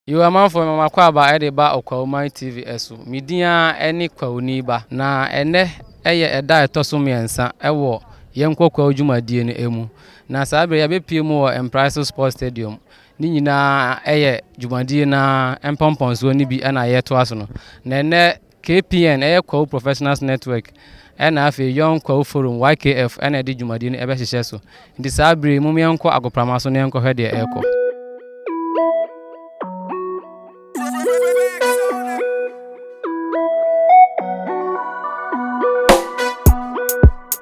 Yo amanfoɔ mema mo akwaaba de ba Okwawuman TV so. Me din ara ne Kwawuni Ba. Na ɛnnɛ yɛ ɛda a ɛtɔ so mmiɛnsa wɔ Yɛnkɔ Kwawu dwumadie no mu. Na saa berɛ yi yɛbɛpue mu wɔ Mpraeso Sports Stadium. Ne nyinaa yɛ dwumadie no ara mpɔmpɔnsoɔ no bi na yɛretoa so no. Na ɛnnɛ KPN yɛ Kwawu Professionals Network ɛna afei Young Kwawu Forum, YKF, na ɛde dwumadi no bɛhyehyɛ so. Nti saa bere yi, mom yɛnkɔ agoprama so na yɛnkɔhwɛ deɛ ɛrekɔ.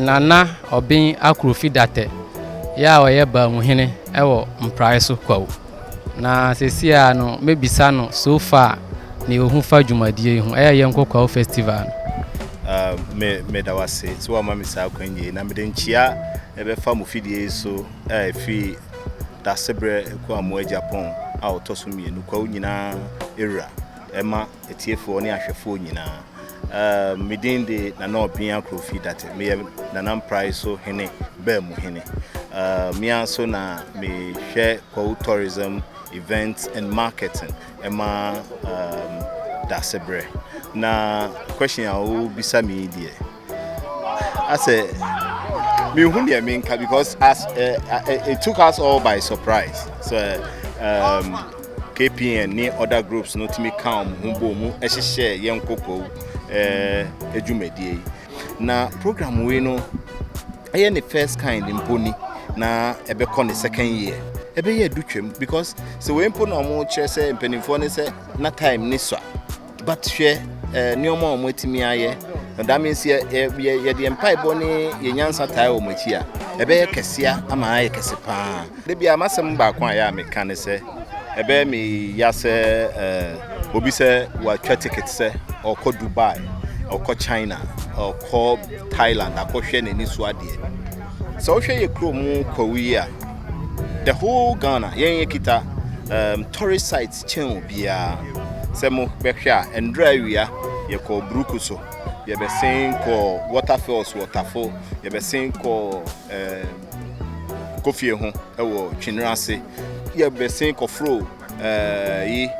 Nana Obeng Akrofi Datteh yɛ a ɔyɛ Baamuhene wɔ Mprae so Kwawu. Na sɛsi a no mɛbisa no so far nea ɔhu fa dwumadie yi ho. Ɛyɛ yɛnkɔ Kwawu Festival no. Me meda wo ase sɛ woama me saa kwan yei na mede nkyia ɛbɛfa mo fidie yi so a ɛfiri Dasebrɛ Kuamoa Agyapong a ɔtɔ so mmienu Kwawu nyinaa ɛwura ɛma Atiefoɔ ne ahwɛfoɔ nyinaa, uh, me din de Nana Obia Krofi Date, meyɛ Nana Mprae so hene, baa mu hene. Uh, me ara so na mehwɛ Kwawu Tourism, Events and Marketing ɛma um, Dasebrɛ. Na question a wobisa me yi deɛ, asɛ mehu deɛ menka because as uh, uh, it took us all by surprise so uh, um, kpn ne other groups no tumi ka wɔn ho bɔ mu hyehyɛ yɛn kɔkɔɔ adwumadie yi na program wei no ɛyɛ ne first kind mpo ni na ɛbɛkɔ ne second year ɛbɛyɛ adu twam because sɛ wei mpo na ɔmo kyerɛ sɛ mpanimfoɔ ne sɛ na time ne sɔ a But hwɛ eh, nneɛma a wɔn atumi ayɛ. Na that means yɛ yɛ yɛde mpaebɔ ne yɛ nyansa taa wɔn akyi a, ɛbɛyɛ kɛseɛ ama ayɛ kɛse paa. Da bi a m'asɛm baako a yɛ a meka ne sɛ ɛbɛyɛ me ya sɛ eh, obi sɛ watwa ticket sɛ ɔkɔ Dubai, ɔkɔ China, ɔkɔ Thailand akɔhwɛ n'ani so adeɛ. Sɛ wohwɛ yɛ kurom kwawu yi a, the whole Ghana yɛn yɛ kita um, tourist site kyɛn obiara. Sɛ mo bɛhwɛ a, ndura awia yɛ kɔɔ Bruku so, yɛ bɛ sen kɔɔ Water Falls wɔ Tafo, yɛ bɛ sen kɔɔ ɛɛ Kofie ho ɛwɔ Twinere ase, yɛ bɛ sen kɔ foro ɛɛ yi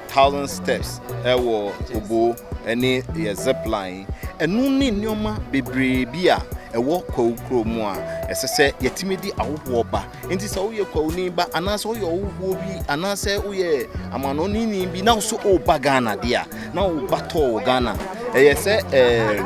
Thousand Steps ɛwɔ Obo ɛne yɛ Zip Line. Ɛno ne nneɛma bebree bi a ɛwɔ Kwawu Kuro mu a ɛsɛ sɛ yɛtumi de ahohoɔ ba Enti sɛ woyɛ kwawuni ba anaasɛ woyɛ ɔwofoɔ bi anaasɛ woyɛ amanɔneni bi na wo so woba Ghana deɛ a na wo ba tɔɔ wɔ Ghana ɛyɛ sɛ ɛɛ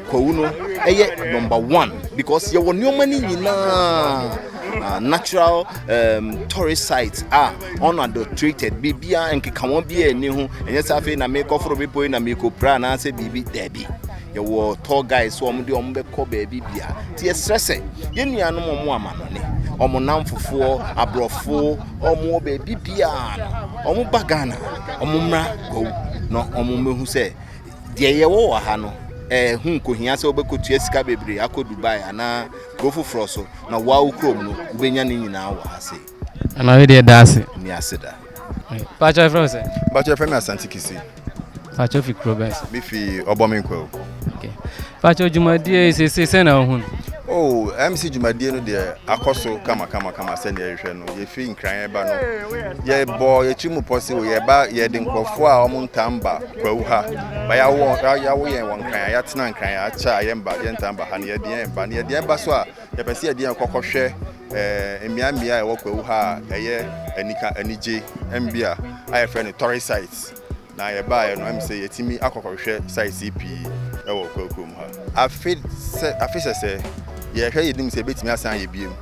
kwawu no ɛyɛ number one because yɛwɔ nneɛma no nyinaa. Uh, natural um, tourist sites a ah, unadulterated biribiara nkekawa biara nni ho ɛnyɛ sɛ afei na mekɔforo bepɔ yi na mekɔpira anaasɛ biribi daabi Yɛwɔ tour guide sɛ wɔn de wɔn bɛkɔ baabi bia. Nti yɛsrɛ sɛ yɛn nuanom wɔn amanɔne, wɔn namfofoɔ, aborɔfo, wɔn wɔ baabi bia no, wɔn ba Ghana, wɔn mmra Gwawu na wɔn mmɛhu sɛ deɛ yɛwɔ wɔ ha no ɛho nkohia sɛ wobɛkɔtua sika bebree akɔ dubai anaa kuro foforɔ so na woa wo kurom no wobɛnya ne nyinaa wɔ ha sei Ana we deɛ daase. Ni ase da. Pacho efrɛ wo sɛ. Pacho efrɛ mi Asante Kisi. Pacho fi kuro bɛn so. Mi fi Ɔbɔmi Nkwawu. Okay. Pacho dwumadie yi sese sɛ na ohun. Oh, MC dwumadie no deɛ akɔ so kama kama kama sɛ deɛ yɛhwɛ no. Yɛfiri nkran yɛba no. Yɛbɔ yɛtiri mu pɔ se o yɛba yɛde nkurɔfoɔ a wɔn ntam ba Kwawu ha. Ba yɛawo yɛawo yɛn wɔ nkran yɛatena nkran yɛakyɛ a yɛn ba yɛn ntam ba ha no yɛde yɛn ba no yɛde yɛn ba so a yɛpɛ sɛ yɛde yɛn kɔkɔhwɛ mmeammea a ɛwɔ kwawu ha a ɛyɛ anika anigye. Mbea a yɛfrɛ no tourist sites na yɛbaeɛ no, ɛm sɛ yɛtumi akɔkɔhwɛ sites yi pii wɔ kwawu kurom ha. Afe sɛ afe sɛsɛ yɛhwɛ yɛnim sɛ ɛbɛtumi asan ayɛ biom.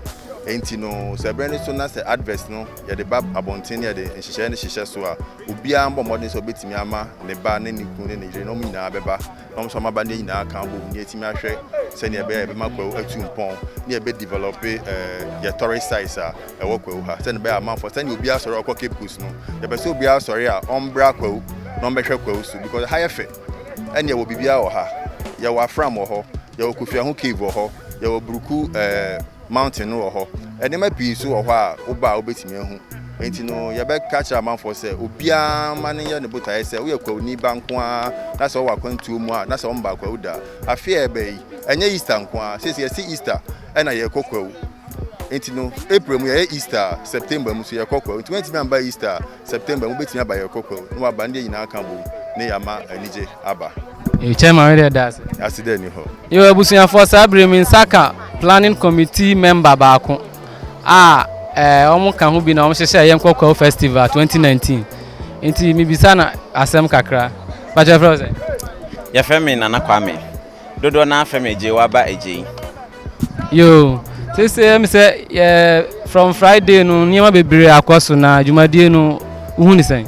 Ɛnti no sɛ berɛ no so na sɛ advert no yɛde ba abɔnten na yɛde nhyehyɛeɛ no hyehyɛ so a, obiara mbɔ mmɔden sɛ ɔbɛtumi ama ne ba ne ne kunu ne ne yere na wɔn nyinaa bɛba. na wɔn nso ama ba no nyinaa aka abom na yɛatumi ahwɛ sɛnea ɛbɛyɛ a yɛbɛma Kwawu atu mpɔn na yɛbɛdevelɔpe yɛn tourist sites a ɛwɔ Kwawu ha sɛnea ɛbɛyɛ a amanfoɔ sɛnea obiara sɔre ɔkɔ Cape Coast no yɛpɛ sɛ obiara sɔre a ɔmbra Kwawu na ɔmbɛhwɛ Kwawu so because ha yɛ fɛ ɛne yɛwɔ biribiara wɔ ha yɛwɔ afram wɔ hɔ yɛwɔ Kofi Aho cave wɔ hɔ yɛwɔ Buruku ɛɛ Mountain no wɔ hɔ. Nneɛma pii nso wɔ hɔ a woba a wobɛtumi ahu. Enti no, yɛbɛka akyerɛ amanfoɔ sɛ obiara mma no nyɛ ne botaeɛ sɛ woyɛ Kwawuni ba nko ara na sɛ wowɔ akwantuo mu a na sɛ wɔmmaa Kwawu da. Afe a ɛreba yi, ɛnyɛ Easter nko ara. Seesei yɛte Easter na yɛrekɔ Kwawu. Enti no, April mu yɛyɛ Easter a, September mu nso yɛkɔ Kwawu. Enti woantumi amma Easter a, September mu bɛtumi aba yɛ kɔkɔ o na waba ne deɛ nyinaa aka bom ne yɛama anigye aba. Hey chairman me deɛ daase. Ase dɛ ni hɔ. Yo abusuafoɔ saa bere mi nsa ka planning committee member baako a eh, wɔn ka ho bi na wɔn hyehyɛ yɛn kɔkɔɔ festival 2019 nti mibisa na asɛm kakra bàtchɛ fɛrɛ sɛ. Yɛfrɛ me Nana Kwame. Dodoɔ naa fɛ me gyee wa ba agyei. Yoo sese ɛmi sɛ yɛ from Friday no nneɛma bebree akɔ so na dwumadie no wohu ne sɛn?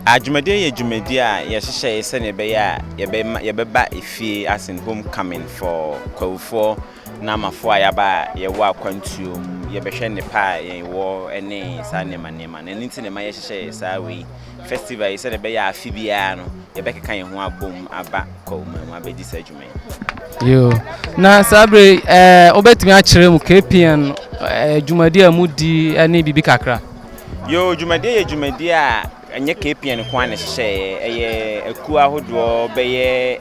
Adwumadie yɛ dwumadie a yɛhyehyɛ yɛ sɛdeɛ ɛbɛyɛ a yɛbɛma yɛbɛba efie as in home coming for Kwahufoɔ. Naamafo a yɛaba a yɛwɔ akwantuo mu, yɛbɛhwɛ nnepa a yɛwɔ ne saa nneɛma nneɛma no. Ɛno nti na ɛma yɛhyehyɛɛ saa wei festival yi sɛdeɛ ɛbɛyɛ a afe biara no yɛbɛkeka yɛn ho abom aba Kawuma mu abɛdi saa adwuma yi. Yoo, na saa bere yi ɛɛ wobɛtumi akyerɛ mu KPN ɛɛ dwumadie a mudi ɛne biribi kakra. Yoo, dwumadie yɛ dwumadie a Ɛnyɛ KPN nko ara na ɛhyehyɛeɛ, ɛyɛ akuo ahodoɔ bɛyɛ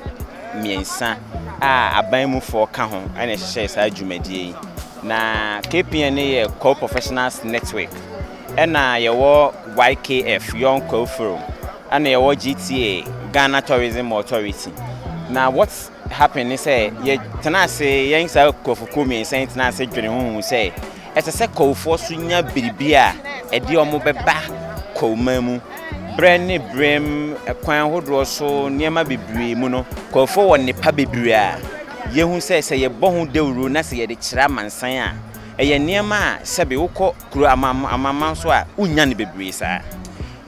mmiɛnsa a aban mufoɔ ka ho na ɛhyehyɛɛ saa dwumadie yi. Na KPN no yɛ Kwao Professionals Network, ɛna yɛwɔ YKF, Young Kwao Forum, ɛna yɛwɔ GTA, Ghana Tourism Authority. Na what happen ne sɛ yɛtena ase yɛn saa akuafokuo mmiɛnsa yi tena ase dwene ho hu sɛ ɛsɛ sɛ Kwawufoɔ so nya biribi a ɛde wɔn bɛba Kwawuman mu. Berɛ ne berɛm kwan ahodoɔ so nneɛma bebree mu no, Kwawufoɔ wɔ nnepa bebree a yɛhu sɛ sɛ yɛbɔ ho dawuro na sɛ yɛde kyerɛ amansan a, ɛyɛ nneɛma a sɛbe wokɔ kuro amanaman so a wonnya no bebree saa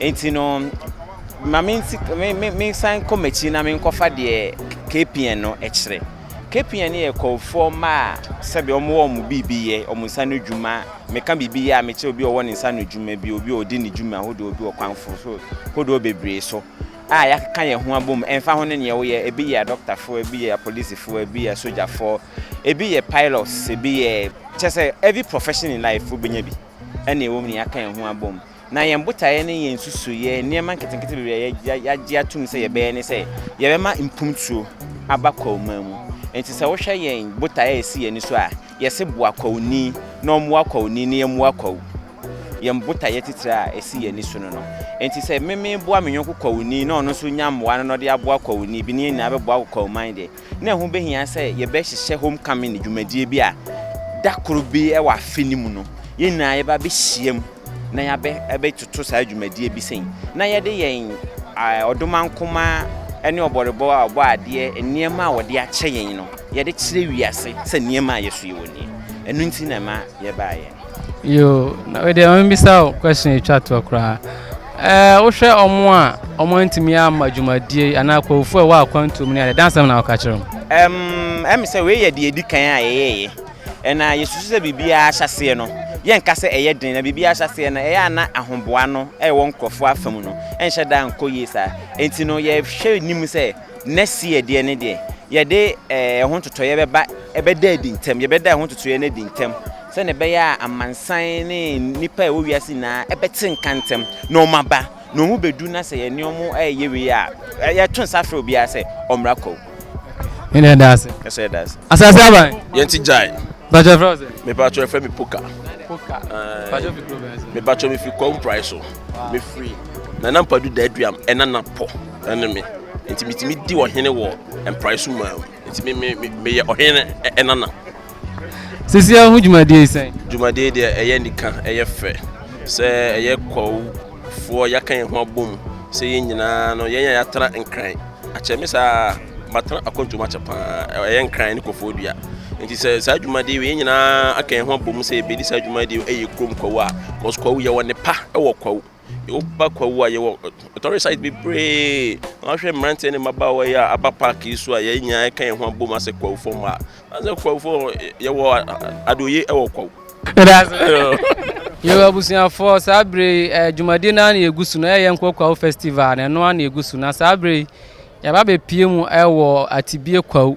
nti no ma me nsi me nsan kɔ m'akyi na menkɔfa deɛ KPN no kyerɛ KPN no yɛ kɔɔfoɔ mma a sɛbi wɔn wɔ wɔn biribi yɛ wɔn nsa no dwuma meka biribi yɛ a mekyɛ obi ɔwɔ ne nsa no dwuma bi obi a ɔdi ne dwuma ahodoɔ bi wɔ kwanfo so hodoɔ bebree so a yɛakeka yɛn ho abom ɛmfa ho ne neɛ woyɛ ebi yɛ adɔktafoɔ ebi yɛ apolisifoɔ ebi yɛ sogyafoɔ Ebi yɛ pilots, ebi yɛ, kyerɛ sɛ every profession in life wobɛnya bi ɛna ɛwɔ mu na yɛaka yɛn ho abom. Na yɛn botaeɛ ne yɛn nsusuiɛ, nneɛma nketenkete bebree a yɛagye atom sɛ yɛbɛyɛ ne sɛ yɛbɛma mpomtuo aba Kwauma mu. Nti sɛ wohwɛ yɛn botaeɛ a ɛsi yɛn ani so a, yɛse boa Kwauni na ɔmmoa Kwauni na yɛmmoa Kwau. Yɛn botaeɛ titire a ɛsi yɛn ani so no no. Nti sɛ me meboa me yɔnko Kwauni na ɔno nso nya mmoa no na ɔde aboa Kwauni bi na yɛn nyinaa bɛboa Kwauman deɛ, na ɛho behia sɛ yɛbɛhyehyɛ homecoming dwumadie bi a da koro bi wɔ afe no mu no, yɛn nyinaa yɛba abɛhyiam na yɛabɛtoto saa dwumadie bi sɛn na yɛde yɛn ɔdomankoma ne ɔbɔrebɔ a ɔbɔ adeɛ nneɛma a wɔde akyɛ yɛn no yɛde kyerɛ wiase sɛ nneɛma a yɛso yɛwɔ nie. Ɛno nti na ɛma yɛbaeɛ. Yoo na wedeɛ maame bisa o question etwa toɔ koraa ɛɛ wohwɛ ɔmo a ɔmo antumi ama dwumadie yi anaa akɔwofo a ɛwɔ akwantuo mu ne adeɛ dansɛm na ɔka kyerɛ wɔn. Ɛm ɛm sɛ wei yɛ deɛ edi kan a yɛyɛɛyɛ ɛna yɛsusu sɛ biribiara ahyɛseɛ no yɛnka sɛ ɛyɛ den na biribiara ahyɛseɛ no ɛyɛ a na ahoboa no ɛwɔ nkorɔfoɔ afa mu no ɛnhyɛ da nkɔ yie saa enti no yɛhwɛ nim sɛ. na seɛ deɛ ne deɛ yɛde eh, ɛho ntotoeɛ bɛba ɛbɛda adi ntɛm yɛbɛda ɛho ntotoeɛ no adi ntɛm sɛnea ɛbɛyɛ a amansan ne nnipa a ɛwɔ wiase nyinaa ɛbɛte nka ntɛm na wɔn aba na wɔn bɛdu na sɛ yɛne wɔn ɛyɛ wei a yɛto nsa frɛ obiara sɛ ɔmmra kwaw ɛna ɛda ase ɛsɛ ɛda ase asase aban yɛn ti gyae bàtà fẹ́ ọ̀sẹ̀. mi bàtà fẹ́ mi poka. poka bàtà fi kúrò bẹ́ẹ̀ sẹ́. mi bàtà mi fi kọ́ mprai so mi firi nana mpadu dẹ́ẹ̀dùyàm ẹ̀nana pọ̀. ne me, enti metumi di ɔhene wɔ mprae so maa mu. Enti me, me, me, meyɛ ɔhene ɛ- nana. Sisi ahu dwumadie yi sɛn? Dwumadie yi deɛ ɛyɛ anika, ɛyɛ fɛ. Sɛ ɛyɛ kwawofoɔ yɛaka yɛn ho abom sɛ yɛn nyinaa no, yɛn a yɛatra Nkran akyɛ me saa a, matena akwantuo mu akyɛ paa. Ɛyɛ Nkran ne Kɔfoɔ Dua. Nti sɛ saa dwumadie wei yɛn nyinaa aka yɛn ho abom sɛ yɛbɛdi saa dwumadie wei ɛyɛ kurom kwawu a, cause kwawu yɛwɔ nnepa wɔ kwawu. Woba Kwawu a yɛwɔ ɔtɔre site bebree. Na wahwɛ mmeranteɛ ne mmabaawa yi a aba park yi so a yɛn nyinaa ka yɛn ho abom asɛ Kwawufo mma. Asɛ Kwawufo yɛwɔ adeoye wɔ Kwawu. Yo abusuafoɔ saa berɛ yi eh, dwumadie no ara na yɛgu so no ɛyɛ nkɔ Kwawu festival na ɛno ara na yɛgu so na saa berɛ yi yɛaba bɛpie mu ɛwɔ Atibie Kwawu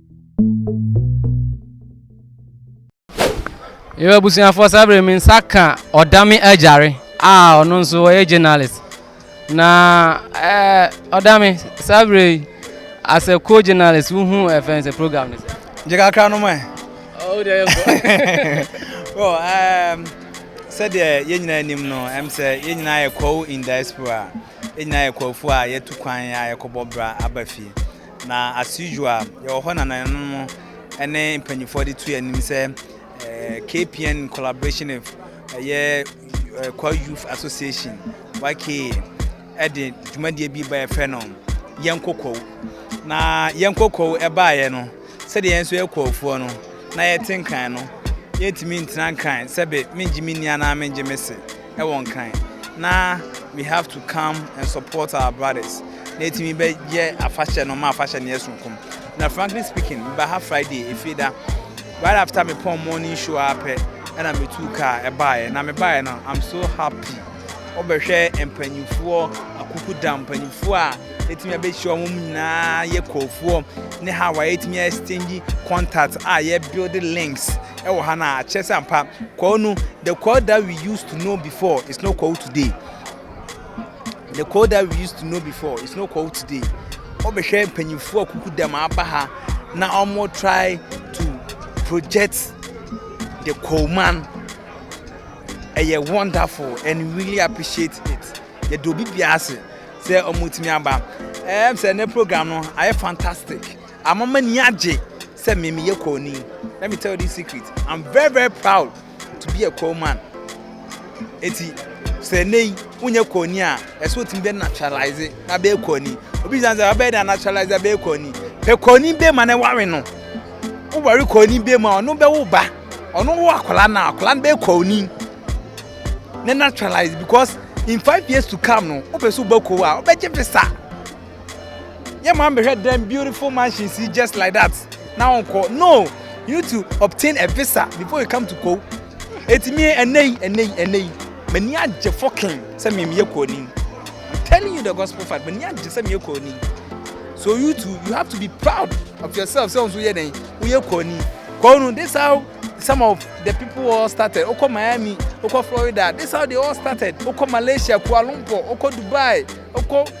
Yɛwɔ abusuafoɔ saa berɛ me nsa ka ɔdame agyare a ɔno nso ɔyɛ journalist na ɛɛ ɔdame saa berɛ yi as a co journalist wohu ɛfɛn sɛ program no sɛ. gye kakra no mɛ. ɔwɔ deɛ yɛ bɔ. well um, sɛdeɛ yɛn nyinaa anim no ɛm sɛ yɛn nyinaa yɛ kɔw in diaspora yɛn nyinaa yɛ kɔwfoɔ a yɛtu kwan a yɛkɔbɔ bra aba fie. Na as usual yɛwɔ hɔ na nananom ne mpanyinfoɔ de tu anim sɛ eh, KPN in collaboration with ɛyɛ eh, Kwa Youth Association YKA ɛde dwumadie bi ba yɛfrɛ no yɛn kokɔw na yɛn kokɔw ɛbaeɛ no sɛdeɛ yɛn nso yɛ kɔɔfoɔ no na yɛte nkran no yɛntumi ntena nkran sɛbe mengye me nni anaa mengye me se wɔ nkran na we have to come and support our brothers na etumi bɛyɛ afahyɛ no ma afahyɛ no yɛ sonkom na frankly speaking meba ha friday efie da right after me pɔn morning show a pɛ ɛna metu kaa ɛbaeɛ na mebaeɛ no i'm so happy wobɛhwɛ mpanimfoɔ akukuda mpanimfoɔ a ɛtumi abɛhyia wɔn nyinaa yɛ kɔɔfoɔ ne how a ɛtumi exchange contact a yɛbuild links Ɛwɔ ha na akyerɛ sɛ ampa Kwawu no the Kwawu that we used to know before is no Kwawu today. The Kwawu that we used to know before is no Kwawu today. Wɔbɛhwɛ mpanyinfoɔ a kuku dɛm aba ha na wɔn try to project the Kwawu man. Ɛyɛ wonderful and we really appreciate it. Yɛde obi bia ase sɛ wɔn tumi aba. Ɛyɛ sɛ ne program no ayɛ fantastic. Amama ni agye. Sɛ me meyɛ Kwawni, let me tell you this secret, I'm very very proud to be a Kwaw man. Eti sɛ ɛnɛ yi wonyɛ Kwawni a, ɛsɛ wotumi bɛ naturalize na bɛyɛ Kwawni. Obi san sɛ abɛyɛ dɛ naturalize na bɛyɛ Kwawni. Pɛ Kwawni bɛ ma na ɛware no. Woware Kwawni bɛ mu a, ɔno bɛwo ba. Ɔno wo akwadaa no a, akwadaa no bɛyɛ Kwawni. Na naturalize because in five years to come no, wopɛ sɛ wobɛ Kwaw a, wobɛgye visa. yɛ maame hwɛ dɛm beautiful mansions yi just like that na wɔn kɔ no you need to obtain a visa before you come to kow etimi ɛnɛ yi ɛnɛ yi ɛnɛ yi mani agye fɔkin sɛ mi mi yɛ kow ni i'm telling you the gospel fact mani agye sɛ mi yɛ kow ni so you too you have to be proud of yourself sɛ wɔn so yɛ dɛn wɔyɛ kow ni kow no this how some of the people all started okɔ miami okɔ florida this how they all started okɔ malaysia kuala lumpur okɔ dubai okɔ.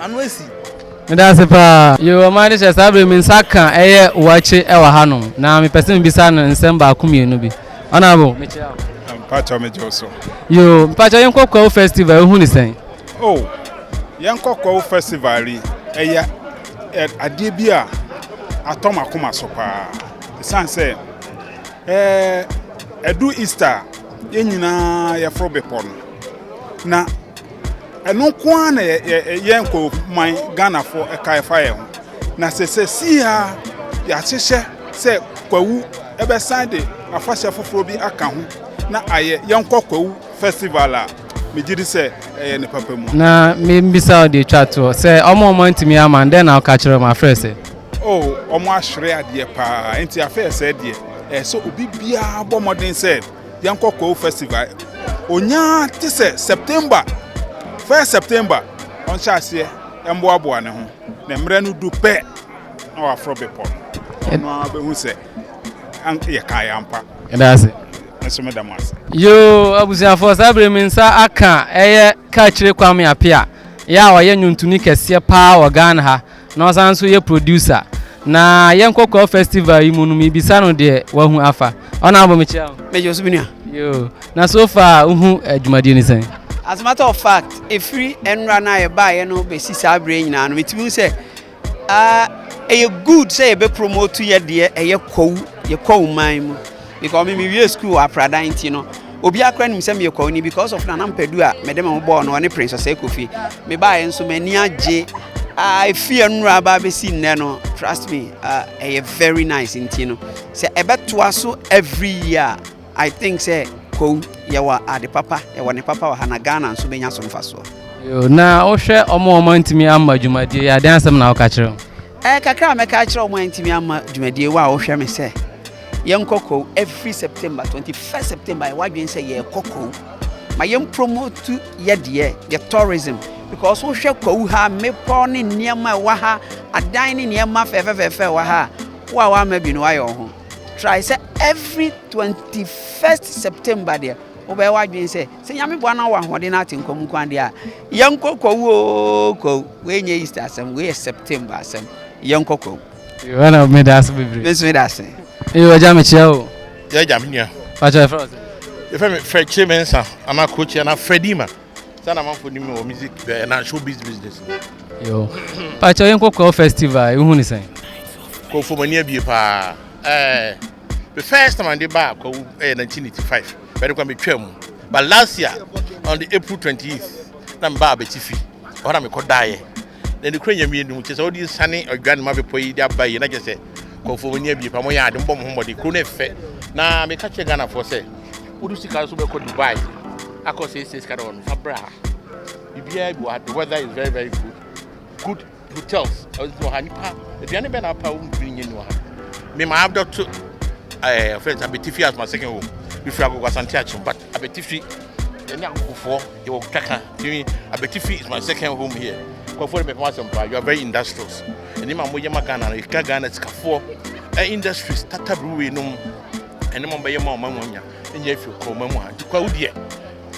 Ano asi. Meda ase paa. Yoo ɔman de hyɛ saa bere me nsa ka ɛyɛ wakye ɛwɔ ha nom na me pɛsɛ me bisa no nsɛm baako mienu bi honourable me kyia wo. Mpakyɛw me gye wo so. Yoo mpakyɛw yɛn kɔ kwawu festival ehu ne sɛn. Oh yɛn kɔ kwawu festival yi ɛyɛ adeɛ bi a atɔ ma koma so paa esan sɛ ɛɛ ɛdu Easter yɛn nyinaa yɛforo bepɔ no na. Ɛno nko ara na yɛn nkorofuman Ghanafoɔ ɛka ɛfa yɛn ho. Na sɛ sɛsii ara yɛahyehyɛ sɛ Kwawu ɛbɛsan de afahyɛ foforɔ bi aka ho na ayɛ Yɛnkɔ Kwawu Festival a, megye di sɛ ɛyɛ ne papa mu. Na mebisa wo deɛ ɛtwa toɔ sɛ wɔn a wɔantumi amma no dɛn na woka kyerɛ wɔn afrɛ sɛ? Oh, wɔahwere adeɛ paa nti afɛɛ sɛɛ deɛ ɛsɛ sɛ obi biara bɔ mmɔden sɛ yɛnkɔ Koo festival. Onyaa te sɛ September, first September, ɔnhyɛ aseɛ mboaboa ne ho. Na mmerɛ no du pɛ, na waforo bepɔ no. Ɔno ara bɛhu sɛ yɛ kaa yɛ ampa. Yɛda ase. Nso meda mo ase. Yoo abusuafoɔ saa bere mi nsa aka ɛyɛ Kaakyire Kwame Apea yɛ a ɔyɛ nwontoni kɛseɛ paa wɔ Ghana ha. Na ɔsan nso yɛ producer. Na yɛn kɔkɔɔ festival yi mu no mebisa no deɛ wahu afa. Ɔna abɔ mekyia o. Mɛgye so menua. Yoo, na so far wohu adwumadie no sɛn? As a matter of fact, ɛfiri ɛnora no a yɛbaeɛ no bɛsi saa berɛ nyinaa no, metumi hu sɛ ɛyɛ good sɛ yɛbɛ promote yɛdeɛ ɛyɛ kwawu, yɛ kwawu man mu. Because me mewie school apradan nti no obiara kora nim sɛ meyɛ kwawuni because of nana mpadu a mede me ho bɔɔ no ɔne prince ɔsɛe kofi mebaeɛ nso m'ani agye a ɛfiri ɛnora aba abɛsi nnɛ no trust me ɛyɛ uh, very nice nti no sɛ ɛbɛtoa so every year i think sɛ kow yɛwɔ ade papa yɛwɔ ne papa wɔ ha na ghana nso bɛnya so mfasoɔ na wohwɛ ɔmo ɔmo ntumi amma dwumadie yɛ adeɛ asɛm na woka kyerɛ Ɛɛ, kakra a mɛka akyerɛ wɔn a ɛntumi amma dwumadie wɔ a wɔhwɛ me sɛ yɛnkɔ Kwawu every September, 21st September yɛwɔ adwene sɛ yɛrekɔ Kwawu ma yɛmpromote yɛdeɛ, yɛ tourism because wohwɛ Kwawu ha mmepɔ ne nneɛma ɛwɔ ha, adan ne nneɛma fɛfɛfɛfɛ ɛwɔ ha a, wo a woamma bi no woayɛ wo ho try sɛ every 21st September deɛ wobɛyɛ w'adwene sɛ Sɛ Nyame boa na wowɔ ahoɔden na ate nkwa mu kwan deɛ a, yɛnkɔ kwawu oo kwawu. Wei nyɛ Easter asɛm, wei yɛ September asɛm. Yɛnkɔ kwawu. Yohana me da ase bebree. Me nso me da ase. Ee wagya me kyia o. Yɛ agya me nua. Pakyɛ ɛfrɛ ɔsɛ. Yɛfrɛ me fɛ kyerɛ me nsa anaa kokyia na Fredima. Sɛ na manfo nim wɔ music bɛɛ eh, na show biz business. Yo. Pakyɛ yɛnkɔ kwawu festival, ehu ne sɛn? Kofo mani abie paa. Eh. the first time ade baa kwawu ɛyɛ 1985 bɛde kwa metwaa mu but last year on the april 28th na mebaa abɛtifi ɔhɔ na mekɔ daeɛ na ne kura nyame anim kyɛ sɛ wode nsane adwa ne ma bepɔ yi de aba yi na kyɛ sɛ kɔmfo mani abie pa mɔyɛ ade mbɔ mo ho mmɔde kuro no ɛfɛ na meka kyerɛ ghanafoɔ sɛ wode sika nso bɛkɔ dubai akɔ sɛ ɛsɛ sika dɛ ɔno fa bra biribiaa bi wɔ ha the weather is very very good good Hotels, ɛdze wɔ ha, nipa, aduane bɛn na apa a wɔntumi nyɛ ni wɔ ha? Me maa dɔto ɛɛ ɔfrɛ sɛ Abetifi as my second home. Mefiri Agogo Asante Akyem, but Abetifi ɛne Agogofoɔ yɛwɔ twaka. Tumi Abetifi is my second home here. Kɔfoɔ de mɛpɛm asɛm paa, you are very industrious. Ɛnim a moyɛ ma Ghana no, ɛka Ghana sikafoɔ, ɛ industries, tata brewery nom, ɛne ma bɛyɛ ma ɔma mu anya, ɛnyɛ afiri kɔ ɔma mu ha. Nti kwa wo deɛ,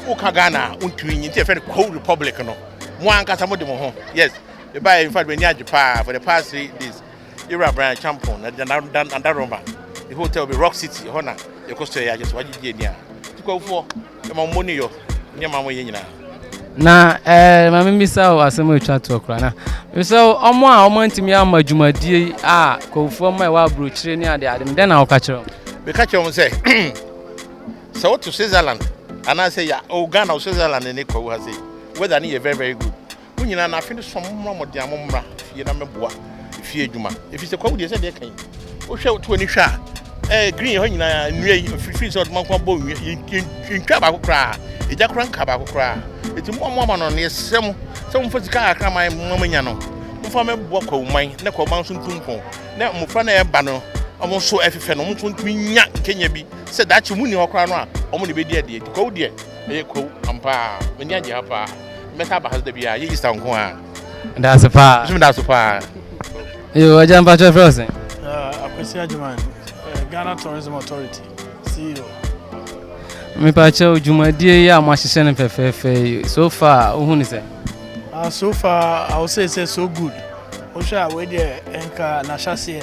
woka Ghana a, wontumi nyi, nti ɛfɛ no Kwawu Republic no. Mo ankasa mo de mo ho. Yes. Me ba in fact me ni agye paa for the past three days. Yura Brian Champon na da da da Roma. The hotel be Rock City. Ho na ye ko so ye agye so agye die ni a. Tukwafo e ma mo ni yo. Ni ma mo ye nyina. Na eh ma me bisa o asem o twa to kra na. Me se o omo a omo antimi ama dwumadie a kwafo ma e wa abrokyire ni ade ade. Me den na wo ka kire o. Me ka kire o se Sɛ woto Switzerland anaa sɛ yɛ o Ghana o Switzerland ne Kwawu ha sei weather no yɛ very very good mo nyinaa na afe no so mo mmra mo de amo mmra fie na mɛboa fie adwuma ɛfiri sɛ Kwawu deɛ sɛ deɛ kan wohwɛ woto ani hwɛ a ɛɛ eh, green hɔ nyinaa nnua yi fifiri sɛ ɔdoma nko abɔ nnua yɛntwa baako koraa ɛgya koraa nka baako koraa ɛti mo amo ama no no yɛsrɛ mo sɛ momfa sika kakra ma mo manya no momfa mɛboa Kwawu man na Kwawu man nso ntu mpɔn na mmofra na ɛba no ɔmo nso ɛfefɛ no ɔmo nso ntumi nya nkenya bi sɛ daakye ɔmo nni hɔ koraa no a, ɔmo na ebedi adi adi. Kwawu deɛ, ɛyɛ kwawu ampa ara. M'ani agye ha paa. Mɛsan aba ha so da biara, ɛnyɛ Easter nko ara. Daase paa. Nso daase paa. Yoo, agya mpa kyerɛ fɛ ɔsɛn. Akwasi Agyeman, Ghana Tourism Authority, CEO. Mepa kyerɛ o, dwumadie yi a mo ahyehyɛ no fɛfɛɛfɛ yi, so far, wohu ne sɛ? Ah, so far, I will say, say so good. Wohwɛ a, wei deɛ, nka n'ahyɛseɛ.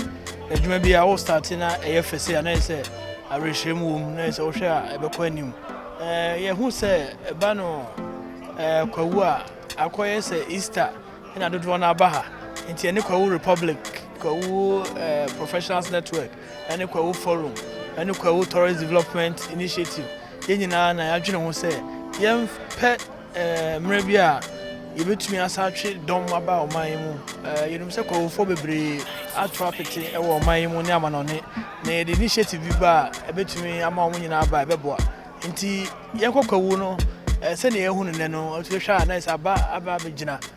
Adwuma bi a wo starte na ɛyɛ fɛ sei a na ɛyɛ sɛ awerɛhyerɛmu wɔ mu na ɛyɛ sɛ wohwɛ a ɛbɛkɔ anim. Ɛɛ yɛhu sɛ ɛba no ɛɛ kwawu a akɔyɛ sɛ Easter na dodoɔ no aba ha. Nti ɛne kwawu Republic, kwawu ɛɛ Professionals Network, ɛne kwawu Forum, ɛne kwawu Tourist Development Initiative yɛn nyinaa na yɛadwene ho sɛ yɛmpɛ Mmerɛ bi a yɛbɛtumi asa atwe dɔm aba ɔman yi mu. Yɛnim sɛ kɔwofoɔ bebree ato apete wɔ ɔman yi mu ne amanɔne, na yɛde initiative bi ba a ɛbɛtumi ama wɔn nyinaa aba ɛbɛboa. Nti yɛnkɔ kwawu no sɛdeɛ yɛahu no nnɛ no, wotumi hwɛ a na ɛsɛ aba aba abɛgyina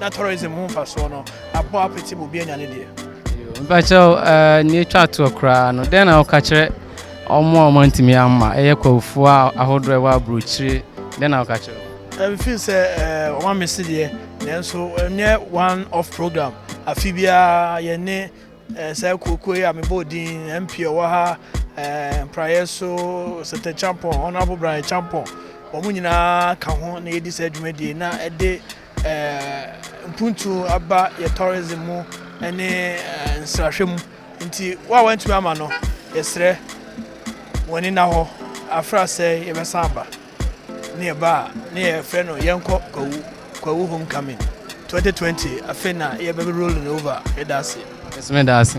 Na tourism ho mfasoɔ no abɔ apete ma obi anya ne deɛ. Mpakyɛw eh, nea etwa toɔ koraa no, dɛn na woka kyerɛ wɔn a wɔantumi amma? Ɛyɛ kwafoɔ a ahodoɔ a ɛwɔ aburokyire, dɛn na woka kyerɛ wɔn? Mfin sɛ wɔn amese deɛ, nanso ɛnyɛ one off program. Afi biara yɛne eh, saa kuokuo yi a mebɔɔ din MP ɔwɔ ha, eh, Mpraeɛ so, Sɛtɛ Champɔn, Honourable Brian Champɔn, wɔn nyinaa ka ho na yɛdi saa dwumadie na ɛde mpuntu aba yɛ tourism mu ne nsrahwɛ mu nti wo a wantumi ama no yɛsrɛ wɔne na hɔ afra sɛ yɛbɛsan aba ne yɛba a ne yɛfrɛ no yɛnkɔ kwawu kwawu homecoming 2020 afei na yɛbɛbɛ rolling over yɛda ase ɛsɛmɛ da ase